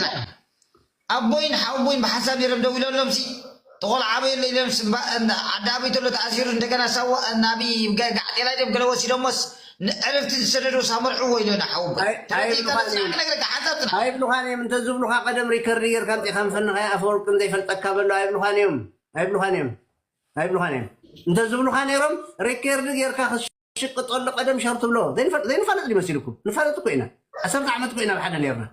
ናይም ኣቦይን ሓውቦይን ብሓሳብ ይረብ ደው ኢሎሎምሲ ተቆልዓ ኣበይ ኣሎ ኢሎም ስባ እንዳ ዓዲ ኣበይ ተሎ ተኣሲሩ እንደገና ሳዋ ናቢ ጋዕጤላይ ድዮም ገለ ወሲዶሞስ ንዕርፍቲ ዝሰደድዎስ ኣመርዕዎ ኢሎና ሓውቦይ ኣይ- ተረዲእካ ኣይብሉኻን ዶ ጽናዕ እዮም። ክነግረካ ሓንሳብ ጽናዕ ኣይብሉኻን እዮም እንተዝብሉኻ ቀደም ሪከርድ ጌርካ ኣምፂኻ ምፈንኻያ ኣፈወርቅን ዘይፈልጠካ በሎ ኣይብሉኻን እዮም ኣይብሉኻን እዮም ኣይብሉኻን እዮም እንተዝብሉኻ ነይሮም ሪከርድ ጌርካ ክስ ሽቅጠሉ ቀደም ሸር ትብሎ ዘይንፋለጥ ድዩ መሲልኩም ንፋለጥ እኮ ኢና ዓሰርተ ዓመት እኮ ኢና ኣብ ሓደ ነርና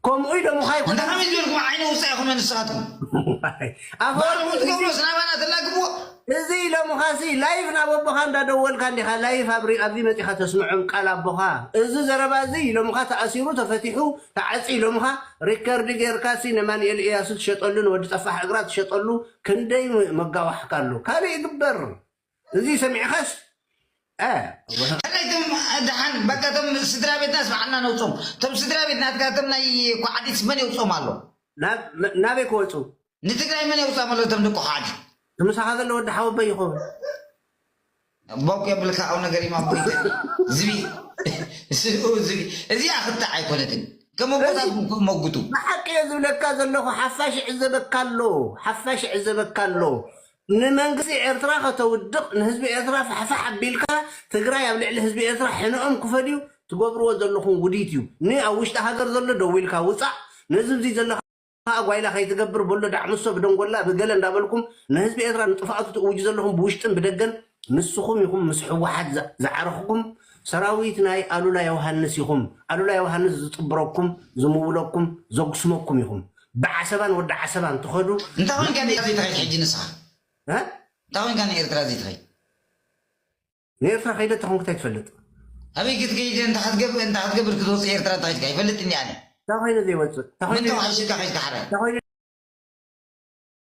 ከምኡ ኢሎ ምዃይ እንተ ከመይ ዝበልኩም ዓይነ ውፃ ኢኹም ንስኻትኩም ኣፈወርቂ ትገብሮ ስናባና ተላግብዎ እዚ ኢሎምኻሲ ላይፍ ናብ ኣቦኻ እንዳደወልካ እንዲኻ ላይፍ ኣብዚ መፂኻ ተስምዖም ቃል ኣቦኻ እዚ ዘረባ እዚ ኢሎምኻ ተኣሲሩ ተፈቲሑ ተዓፂ ኢሎምኻ ሪከርድ ጌርካሲ ንማንኤል እያሱ ትሸጠሉ ንወዲ ፀፋሕ እግራ ትሸጠሉ ክንደይ መጋዋሕካ ኣሎ ካልእ ይግበር እዚ ሰሚዕኻስ እ ከመይ ትም ደሓን በቃ እቶም ስድራ ቤትናስ በዓልና ነውፆም እቶም ስድራ ቤት ናትካ እቶም ናይ ኳዓዲት መን የውፅኦም ኣሎ ናብ ናበይ ክወፁ ንትግራይ መን የውፅኦም ኣሎ እቶም ደቂ ኳዓዲት ምሳኻ ዘሎ ወዲ ሓወበይ ይኸውን ቦክ የብልካ ኣብ ነገር ኢማ ቦይተ ዝቢ ስኡ ዝቢ እዚኣ ክትዕ ኣይኮነትን ከም ቦታትኩም ክመጉቱ ብሓቂ እየ ዝብለካ ዘለኹ ሓፋሽ ይዕዘበካ ኣሎ ሓፋሽ ይዕዘበካ ኣሎ ንመንግስቲ ኤርትራ ከተውድቅ ንህዝቢ ኤርትራ ፋሕፋሕ ኣቢልካ ትግራይ ኣብ ልዕሊ ህዝቢ ኤርትራ ሕነኦም ክፈድዩ ትገብርዎ ዘለኹም ውዲት እዩ ን ኣብ ውሽጢ ሃገር ዘሎ ደዊልካ ውጻእ ነዚ እብዚ ዘሎ ከኣ ጓይላ ከይትገብር በሎ ዳዕምሶ ብደንጎላ ብገለ እንዳበልኩም ንህዝቢ ኤርትራ ንጥፍኣቱ ትእውጁ ዘለኹም ብውሽጥን ብደገን ንስኹም ኢኹም ምስ ሕወሓት ዝዓረኽኩም ሰራዊት ናይ ኣሉላ ዮውሃንስ ኢኹም ኣሉላ ዮውሃንስ ዝጥብረኩም ዝምውለኩም ዘጉስመኩም ኢኹም ብዓሰባን ወዲ ዓሰባን ትኸዱ እንታይ ኮይንካ ንኤርትራ ዘይትኸይድ ሕጂ ንስኻ እንታይ ኮይንካ ንኤርትራ ዘይትኸይድ ንኤርትራ ከይደ ተኾንኩ እንታይ ትፈልጥ ኣበይ ክትከይድ እንታይ ክትገብር እንታይ ክትገብር ክትወፅእ ኤርትራ እንታይ ኮይንካ ይፈልጥ እንዲ ኣነ እንታይ ኮይነ ዘይወፅእ እንታይ ኮይነ ምንታይ ሓይሽካ ከይድካ ሓራይ እንታይ ኮይነ